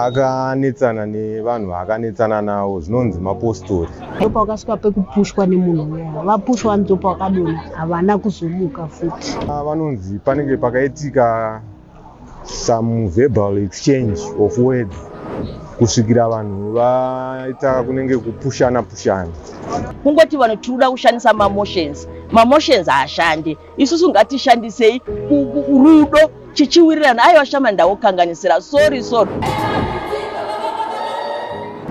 akanetsana nevanhu vaakanetsana navo zvinonzi mapostori ndopa wakasvika pekupushwa nemunhu uya vapushwa ndopa wakadona havana kuzomuka futi ah, vanonzi panenge pakaitika some verbal exchange of words kusvikira vanhu vaita kunenge kupushana pushana kungoti vanhu tiri kuda kushandisa mamotions mamotions haashandi isusu ngatishandisei rudo chichiwirirana aiwa shama ndakukanganisira sorry sorry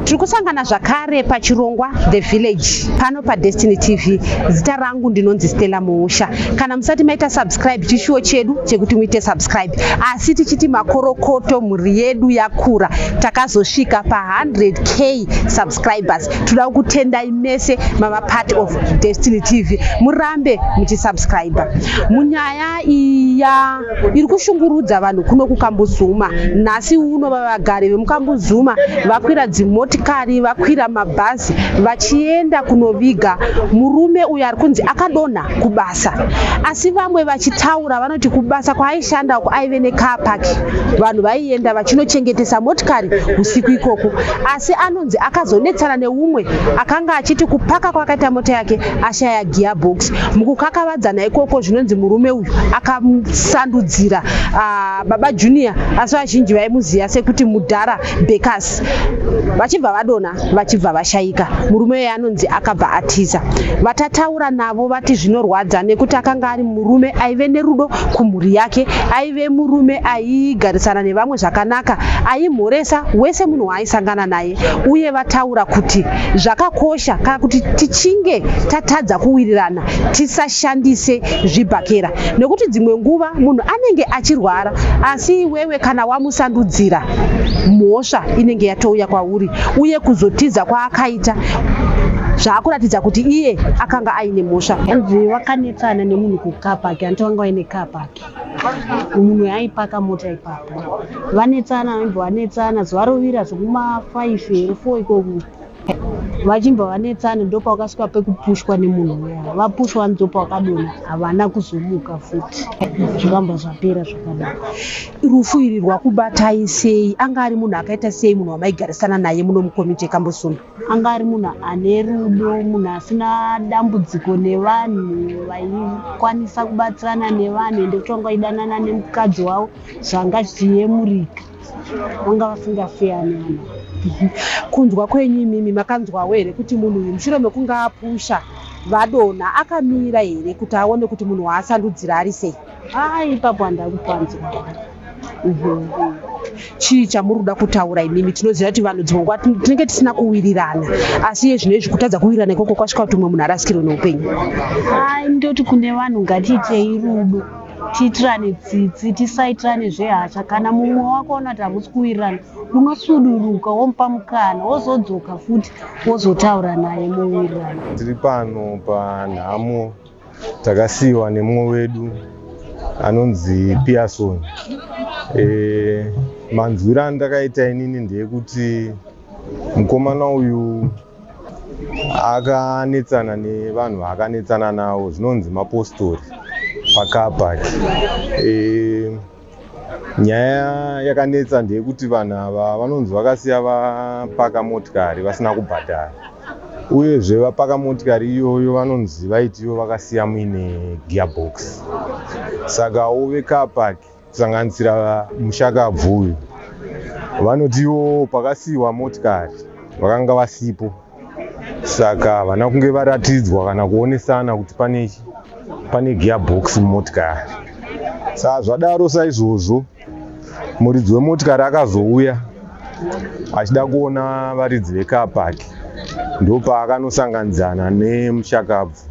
tiri kusangana zvakare pachirongwa the village pano padestiny tv zita rangu ndinonzi stella muusha kana musati maita subscribe chishuwo chedu chekuti muite subscribe asi tichiti makorokoto mhuri yedu yakura takazosvika pa 100 k subscribers toda kukutendai mese mava part of destiny tv murambe muchisubscribe munyaya iya iri kushungurudza vanhu kuno kukambuzuma nhasi uno vavagari vemukambuzuma vakwira dzimotikari vakwira mabhazi vachienda kunoviga murume uyo ari kunzi akadonha kubasa asi vamwe vachitaura vanoti kubasa kwaaishanda uko aive necar park vanhu vaienda vachinochengetesa motikari usiku ikoko asi ano Mukadzi akazonetsana neumwe akanga achiti kupaka kwakaita mota yake ashaya gearbox. Mukukakavadzana ikoko zvinonzi murume uyu akasandudzira uh, baba Junior asi vazhinji vaimuziva sekuti mudhara Bekas vachibva vadona vachibva vashaika. Murume uyu anonzi akabva atiza. Vatataura navo vati zvinorwadza nekuti akanga ari murume aive nerudo kumhuri yake, aive murume aigarisana nevamwe zvakanaka, aimhoresa wese munhu waai vaisangana naye uye vataura kuti zvakakosha kana kuti tichinge tatadza kuwirirana tisashandise zvibhakera nekuti dzimwe nguva munhu anenge achirwara asi iwewe kana wamusandudzira mhosva inenge yatouya kwauri uye kuzotiza kwaakaita zvaakuratidza kuti iye akanga aine mhosva anzi wakanetsana nemunhu kukapaki anti wanga waine kapaki mumwe aipaka mota ipapo vanetsana vaimbva vanetsana zuva rovira zvekumafaifi here fo ikoku vachimbva vanetsana ndopa wakasvika pekupushwa nemunhu uya vapushwa ndopa wakadona havana kuzomuka futi zvakambva zvapera zvakadaro rufu iri rwakubatai sei anga ari munhu akaita sei munhu wamaigarisana naye muno mukomiti yekambosunda Anga ari munhu ane rudo, munhu asina dambudziko nevanhu, vaikwanisa kubatsirana nevanhu ende kuti vanga vaidanana nemukadzi wavo zvanga zvichiyemurika. Vanga vasingafeyani vanhu. Kunzwa kwenyu imimi makanzwawo here kuti munhu uyu mushure mekunge apusha vadonha akamira here kuti aone kuti munhu waasandudzira ari sei? haa ipapo handai kupanzwa mhm. chii chamuri kuda kutaura imimi tinoziva kuti vanhu dzimwe nguva tinenge tisina kuwirirana asi iye zvino izvi kutadza kuwirirana ikoko kwasvika kuti umwe munhu arasikirwe neupenyu ai ndoti kune vanhu ngatiitei rudo tiitirane tsitsi tisaitirane zvehasha kana mumwe wako ona kuti hamusi kuwirirana unosuduruka womupa mukana wozodzoka futi wozotaura naye muwirirana tiri pano panhamo takasiiwa nemumwe wedu anonzi pearson e, manzwiro andakaita inini ndeyekuti mukomana uyu akanetsana nevanhu vaakanetsana navo zvinonzi mapostori pakapaki e, Nyaya yakanetsa ndeyekuti vanhu ava vanonzi vakasiya vapaka motikari vasina kubhadhara uyezve vapaka motikari iyoyo vanonzi vaiti ivo vakasiya muine gearbox sakawo vecar park kusanganisira mushakabvu uyu vanoti ivo pakasiyiwa motikari vakanga vasipo. saka havana kunge varatidzwa kana kuonesana kuti pane pane gearbox mumotikari saka zvadaro saizvozvo muridzi wemotikari akazouya achida kuona varidzi vekapaki ndopaakanosanganidzana nemushakabvu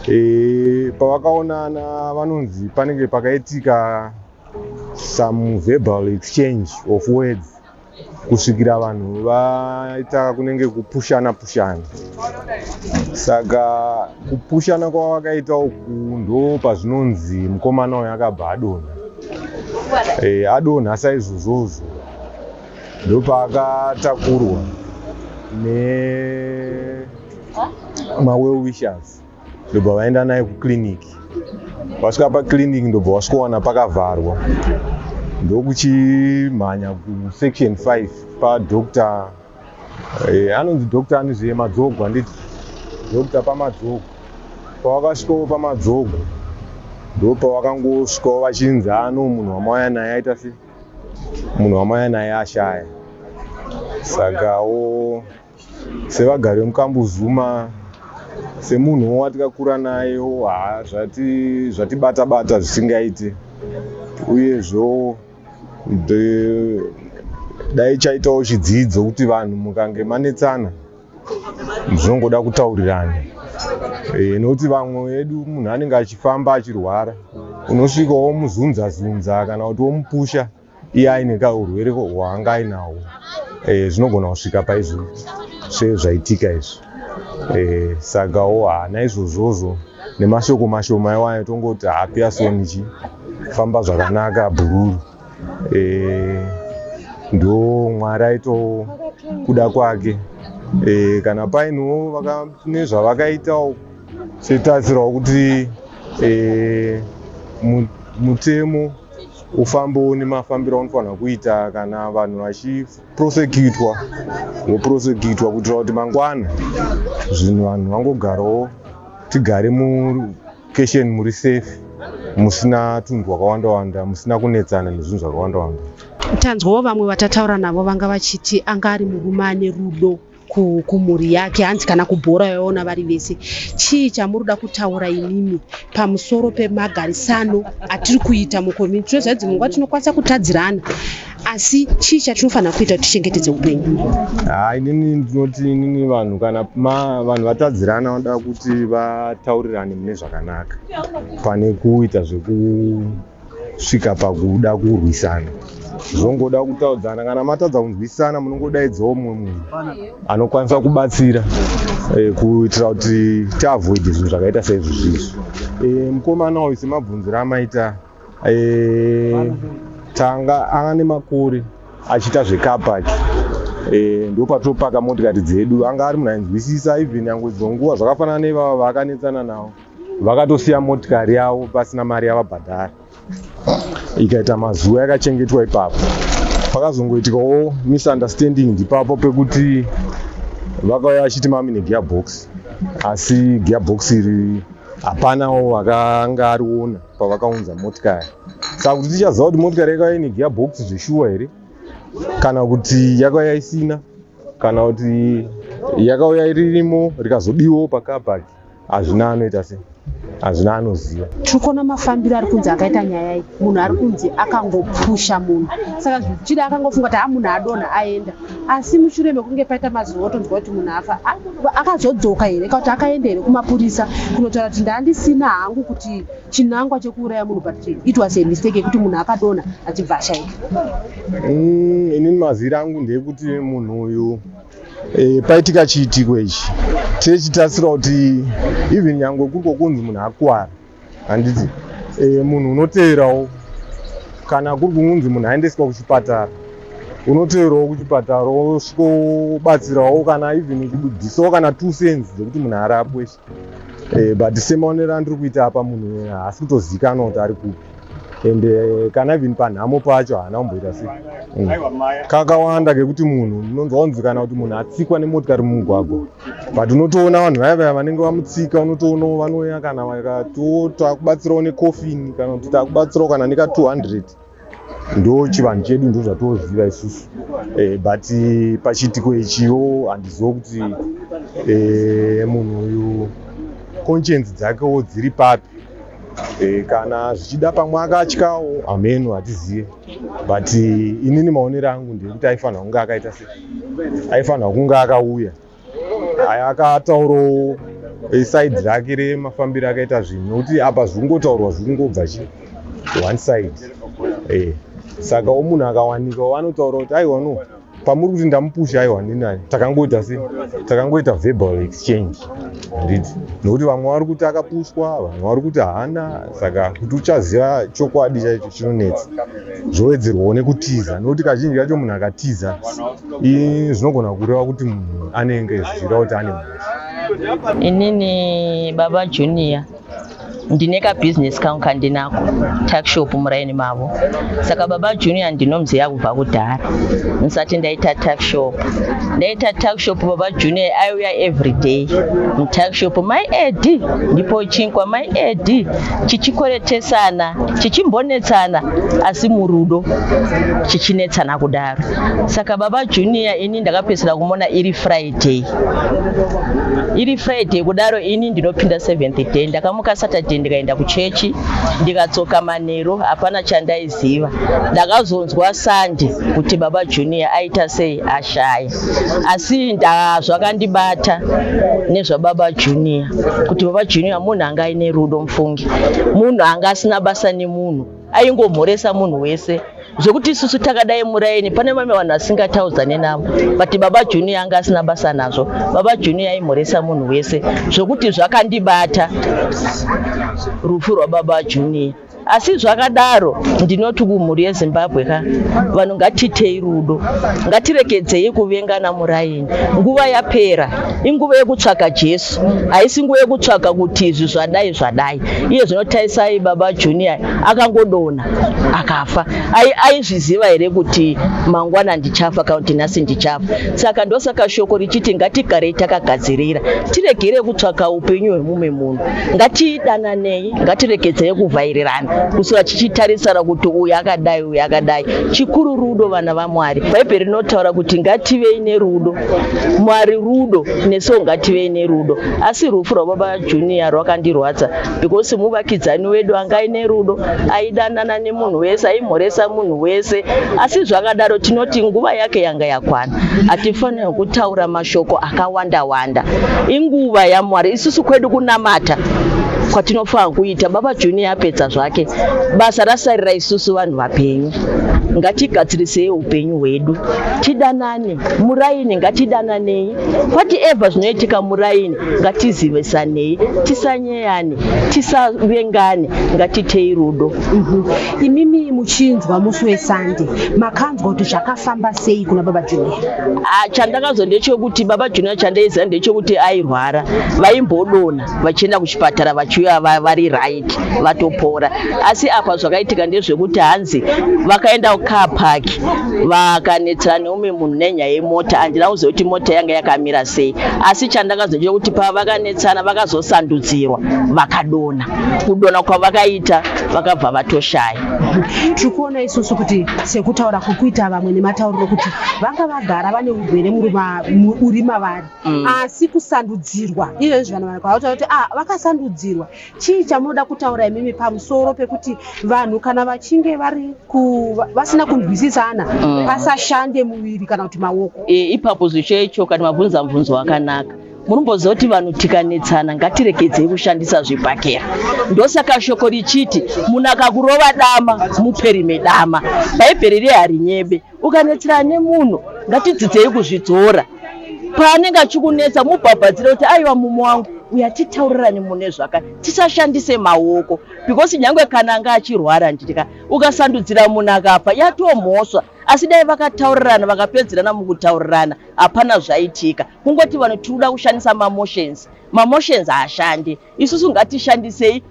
e, pavakaonana vanonzi panenge pakaitika some verbal exchange of words kusvikira vanhu vaita kunenge kupushana pushana saka kupushana kwavakaita uku ndo pazvinonzi mukomana uyu akabva adonha e, adonha saizvozvozvo ndopaakatakurwa ne mawell wishers ndobva vaenda naye kukiriniki vasvika pakiriniki ndobva vasvikowana pakavharwa ndokuchimhanya kusection 5 padoctor eh, anonzi doctor anizve madzogo handiti doctor pamadzogo pavakasvikawo pamadzogo ndopavakangosvikawo vachinzi ano munhu wamauya naye aita se munhu wamauya naye ashaya saka wo Sevagari vemuKambuzuma, semunhu watikakura naye zvatibata bata zvisingaiti uyezvo dai chaitawo chidzidzo kuti vanhu mukange manetsana zvinongoda kutaurirana eh, nokuti vamwe vedu munhu anenge achifamba achirwara unosvika womuzunza zunza kana kuti womupusha iye aine kaurwere hwaanga ainawo eh, zvinogona kusvika paizvo sezvaitika izvi eh, sakawo haana izvozvozvo nemashoko mashoma iwayo tongoti hapiasonichi famba zvakanaka bhururu eh, ndo mwari aito kuda kwake eh, kana painiwo nezvavakaitawo setarisirawo kuti eh, mutemo ufambo nemafambiro anofanira kuita kana vanhu vachiprosekutwa voprosekutwa kuitira kuti mangwana zvinhu vanhu vangogarawo tigare mukeshen muri safe musina tunhu twakawanda wanda musina kunetsana nezvinhu zvakawanda wanda tanzwawo vamwe vatataura navo vanga vachiti anga ari murume ane rudo kumhuri yake hanzi kana kubhora yaona vari vese chii chamuri kuda kutaura imimi pamusoro pemagarisano atiri kuita mukomiti tinoziva kuti dzimwe nguva tinokwanisa kutadzirana asi chii chatinofanira kuita kuti tichengetedze upenyu ha inini ndinoti inini vanhu kana vanhu vatadzirana vanoda kuti vataurirane mune zvakanaka pane kuita zveku kusvika pakuda kurwisana zvongoda kutaudzana kana matadza kunzwisisana munongodaidzawo umwe munhu anokwanisa kubatsira eh, kuitira kuti tiavoid zvinhu zvakaita seizvi zvizvi eh, mukomana uyu semabvunziro amaita eh, tanga anga nemakore achiita zvekapaki ndopatopaka motikari dzedu anga ari munhu ainzwisisa even yangoidzwa nguva zvakafanana nevava vaakanetsana navo vakatosiya motikari yavo pasina mari yavabhadhara ikaita mazuva yakachengetwa ipapo pakazongoitikawo misunderstanding ndipapo pekuti vakauya vachiti mami negearbox asi gearbox iri hapanawo akanga ariona pavakaunza motikari saka kuti tichaziva kuti motikari yakauya ine gearbox zveshuwa here kana kuti yakauya isina kana kuti yakauya iririmo rikazodiwo pakabaki hazvina anoita sei hazvina anoziva tiri kuona mafambiro ari kunzi akaita nyaya iyi munhu ari kunzi akangopusha munhu saka zvichida akangofunga kuti amunhu adonha aenda asi mushure mekunge paita mazuva otonzwa kuti munhu afa akazodzoka here kauti akaenda here kumapurisa kunotaura kuti ndandisina hangu kuti chinangwa chekuuraya munhu but it was a mistake yekuti munhu akadonha achibva ashaika mm, inini mazira angu ndeyekuti munhu uyu E, paitika chiitiko ichi chechitasira kuti even nyangwe kuriko kunzi munhu akwara handiti e, eh, munhu unoteverawo kana kuri kunzi munhu aendeswa kuchipatara unoteverawo kuchipatara osvikobatsirawo kana even kubudisawo kana two cents dzekuti munhu arapwe Eh, but semaonero andiri kuita apa munhu haasi kutozikanwa kuti ari kupi and eh, kana even panhamo pacho haana kumboita se mm. kakawanda kekuti munhu unonzwa kunzi kana kuti munhu atsikwa nemotikari mumugwagwa but unotoona vanhu vaya vaya vanenge vamutsika unotoona vanouya kana vakati takubatsirawo nekofini kana kuti takubatsirawo kana neka 200 ndo chivanhu chedu ndo zvatooziva isusu e, but pachiitiko ichiwo handizivo kuti e, munhu uyu conscience dzakewo dziri papi e, kana zvichida pamwe akatyawo hameno hatizive but inini maonero angu ndekuti aifanira kunge akaita se aifanira kunge akauya aya akataurawo side rake remafambiro akaita zvinhu nokuti apa zvikungotaurwa zvikungobva chi one side e saka omunhu akawanika wanotaura kuti aiwa no pamuri kuti ndamupusha aiwa ndinani takangoita se takangoita verbal exchange handiti nokuti vamwe vari kuti akapushwa vamwe vari kuti haana saka kuti uchaziva chokwadi chaicho chinonetsa zvowedzerwawo nekutiza nokuti kazhinji kacho munhu akatiza zvinogona kureva kuti munhu anenge zvichireva kuti ane mhosva inini baba junior ndine kabhizinesi kangu kandinako tuckshop muraini mavo saka baba junior ndinomuziva kubva kudhara ndisati ndaita tuckshop ndaita tuckshop baba junior aiuya everyday mutuckshop mai edi ndipo chinkwa mai edi chichikoretesana chichimbonetsana asi murudo chichinetsana kudaro saka baba junior ini ndakapedzisira kumona iri friday iri friday kudaro ini ndinopinda seventh day ndakamuka saturday ndikaenda kuchechi ndikadzoka mane Chero hapana chandaiziva. Ndakazonzwa Sande kuti baba Junior aita sei ashaya. Asi nda zvakandibata nezvababa Junior kuti baba Junior munhu anga aine rudo mufunge. Munhu anga asina basa nemunhu. Aingomhoresa munhu wese. zvekuti isusu takadai muraini pane vamwe vanhu vasingataudzane navo but baba junior anga asina basa nazvo baba junior aimhoresa munhu wese zvekuti zvakandibata rufu rwababa junior asi zvakadaro ndinoti kumhuri yezimbabwe ka vanhu ngatitei rudo ngatiregedzei kuvengana muraini nguva yapera inguva yekutsvaga jesu haisi nguva yekutsvaga kuti izvi zvadai zvadai iye zvinotaisai baba junior akangodona akafa aizviziva here kuti mangwana ndichafa kana kuti nhasi ndichafa saka ndosaka shoko richiti ngatigarei takagadzirira tiregere kutsvaka upenyu hwemumwe munhu ngatidananei ngatiregedzei kuvhairirana kusura chichitarisana kuti uyu akadai uyu akadai chikuru rudo vana vamwari bhaibheri rinotaura kuti ngativei nerudo mwari rudo nesuwo ngativei nerudo asi rufu rwababa junior rwakandirwadza because muvakidzani wedu anga aine rudo aidanana nemunhu wese aimhoresa munhu wese asi zvakadaro tinoti nguva yake yanga yakwana hatifanira kutaura mashoko akawanda wanda inguva yamwari isusu kwedu kunamata kwatinofanira kuita baba junior apedza zvake basa rasarira isusu vanhu vapenyu ngatigadzirisei upenyu hwedu tidanane muraini ngatidananei whatever zvinoitika muraini ngatizivisanei tisanyeyane tisavengane ngatitei rudo mhm. imimi muchinzwa musi wesande makanzwa kuti zvakafamba sei kuna baba junior ah, chandakazwa ndechekuti baba junior chandaiziva ndechekuti airwara vaimbodona vachienda kuchipatara vachiuya vari right vatopora asi apa zvakaitika ndezvekuti hanzi vakaenda kucar park vakanetsana umwe munhu nenyaya yemota handina kuziva kuti mota yanga yakamira sei asi chandakazoita kuti pavakanetsana vakazosandudzirwa vakadona kudona kwavakaita vakabva vatoshaya tiri kuona isusu kuti sekutaura kukuita vamwe nematauriro kuti vanga vagara vane urwere uri mavari mm. asi kusandudzirwa ivezvi vanhu vanakuakuta kuti ah, vakasandudzirwa Chii chamunoda kutaura imimi pamusoro pekuti vanhu kana vachinge vari vasina kunzwisisana mm. pasashande muviri kana kuti maoko? E, ipapo zvichecho kana mabvunza mubvunzo wakanaka munomboziva kuti vanhu tikanetsana ngatiregedzei kushandisa zvibhakera ndosaka shoko richiti munhu akakurova dama muperi medama bhaibheri riye harinyebe Ukanetsera nemunhu ngatidzidzei kuzvidzora paanenge achikunetsa mubhabhadzire kuti aiwa mumo wangu uya titaurirane mune zvaka tisashandise maoko because nyange kana anga achirwara nditika ukasandudzira munhu akafa yatomhoswa asi dai vakataurirana vakapedzerana mukutaurirana hapana zvaitika kungoti vanhu tiri kuda kushandisa mamotions mamotions haashande Isusu ngatishandisei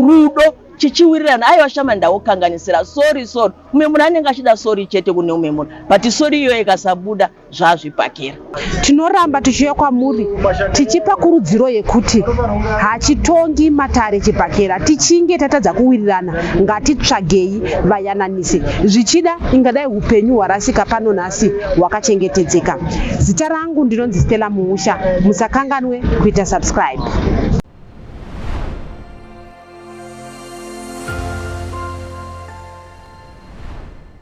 rudo chichiwirirana aiwa shama ndakukanganisira sorry sorry umwe munhu anenge achida sorry chete kune umwe munhu but sorry iyoyo ikasabuda zvazvipakira tinoramba tichiuya kwamuri tichipa kurudziro yekuti hachitongi matare chibhakera tichinge tatadza kuwirirana ngatitsvagei vayananise zvichida ingadai upenyu hwarasika pano nhasi hausi hwakachengetedzeka. Zita rangu ndinonzi Stella Muusha, musakanganwe kuita subscribe.